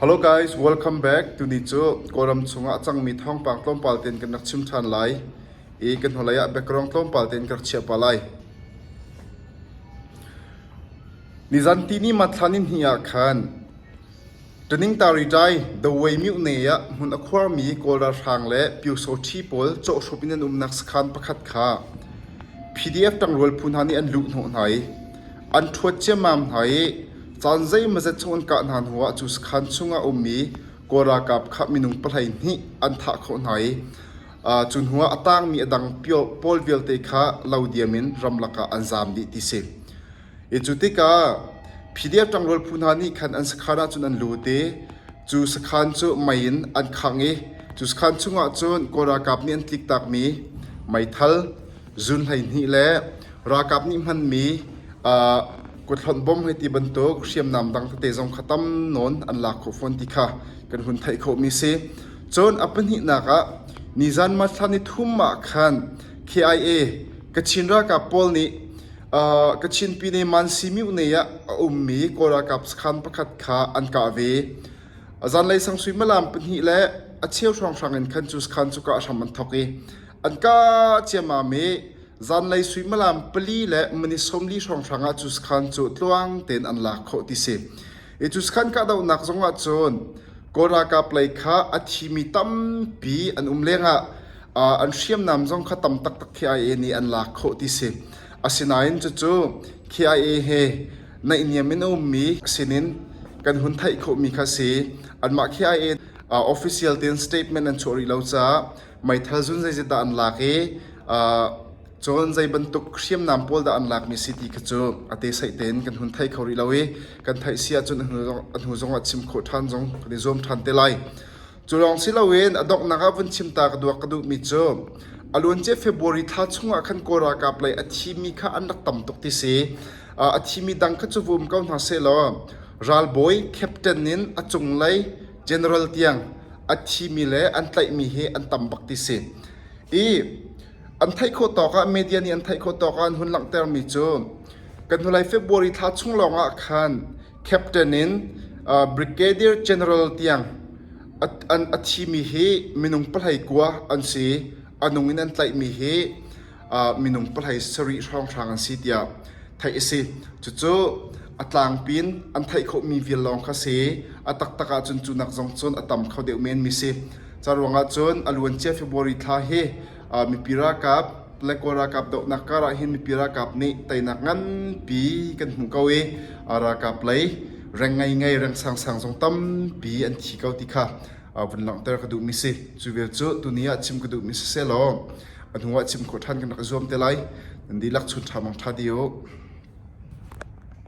Welcome back. Tuni cu Kawlram chungah a cangmi thawngpang tlawmpal tein kan rak chim ṭhan lai i kan hnulei ah background tlawmpal tein ka rak chiah pah lai. Nizantini Mathlan in hnih ah khan Taningtaritai Dawei Myuhne ah hmun a khuarmi Kawl ralhrang le Pyosothi pawl cawhhrup in an umnak sakhan pakhat kha PDF ṭangrual phu hna nih an luh hnawh hna i an ṭhuat ciammam hna i Caan zeimazet chung an kah hna hnuah cu sakhan chung ah a um i Kawl ralkap kha minung pahleihnih an thah khawh hna i cu hnuah a tangmi a dang pawl vialte kha lo diam in ramlak ah an zaam dih ti si. I cu tikah Phidia ṭangrual phu hna nih khan an sakhan ahcun an lut i cu sakhan cu mei in an khangh i cu sakhan chungah cun Kawl ralkap nih an tliktakmi meithal, zun hleihnih le ralkap nih hmanmi Kuthlawnh bom hei ti bantuk hriamnam dang tete zong kha tam nawn an lak khawh fawn ti kha kan hun theih khawhmi si. Cun a pahnihnak ah nizan marthlan ni thum ah khan KIA Kachin ralkap pawl nih uh, Kachin Pine Mansi Myohnei ah a ummi Kawl ralkap sakhan pakhat kha an kah ve. A zanlei sang suimilam pahnih le a cheu hrawnghrang in khan cu sakhan cu kah hram an thawk i an kah ciammam i Zanlei suimilam pali le mani sawmli hrawnghrang ah cuskhan cu tluang tein an lak khawh ti si. I cuskhan kahdohnak zongah cun Kawl ralkap lei kha a thimi tampi an um lengah uh, an hriamnam zong kha tam taktak KIA nih an lak khawh ti si. Asinain cucu KIA he naihniam in a ummi sinin kan hun theih khawhmi kha si. Anmah KIA uh, official tein statement an chuah rih lo caah meithal zun zeizat dah an lak i cun zei bantuk hriamnam pawl dah an lakmi si ti kha cu a te saih tein kan hun theih kho rih lo i kan theih si ahcun a hnu zongah chim khawh ṭhan zong kan i zuam ṭhan te lai cu lawng si loin a donghnak ah vun chim ta ka duak ka duhmi cu a luancia February thla chungah khan kawl ralkap lei a thimi kha an rak tam tuk ti si a thimi dang kha cu vum ko hna sehlaw ralbawi captain in a cunglei General tiang an thimi le an tlaihmi hi an tam bak ti si. I an theih khawh tawk ah media nih an theih khawh tawk ah an hun langhtermi cu kan hnulei February thla chung lawngah khan captain in uh, brigadier general tiang a thimi hi minung palhai kua an si anung in an tlaihmi hi minung pahhlei sarih hrawnghrang an si tiah theih a si. Cucu a tlangpi in an theih khawhmi vial lawng kha si. A taktak ahcun cu nak zong cun a tam kho deuh men mi si. Ca ruangah cun a luancia February thla hi mipi ralkap le kawl ralkap dohnak karah hin mipi ralkap nih teinak nganpi kan hmu ko i ralkap lei reng ngai ngai reng sang sang zong tampi an thi ko ti kha vun langhter ka duhmi si cu vial cu tuni ah chim ka duhmi si selaw a hnu ah chim khawh ṭhan kan rak i zuam te lai nan dihlak chun ṭha mang ṭha di u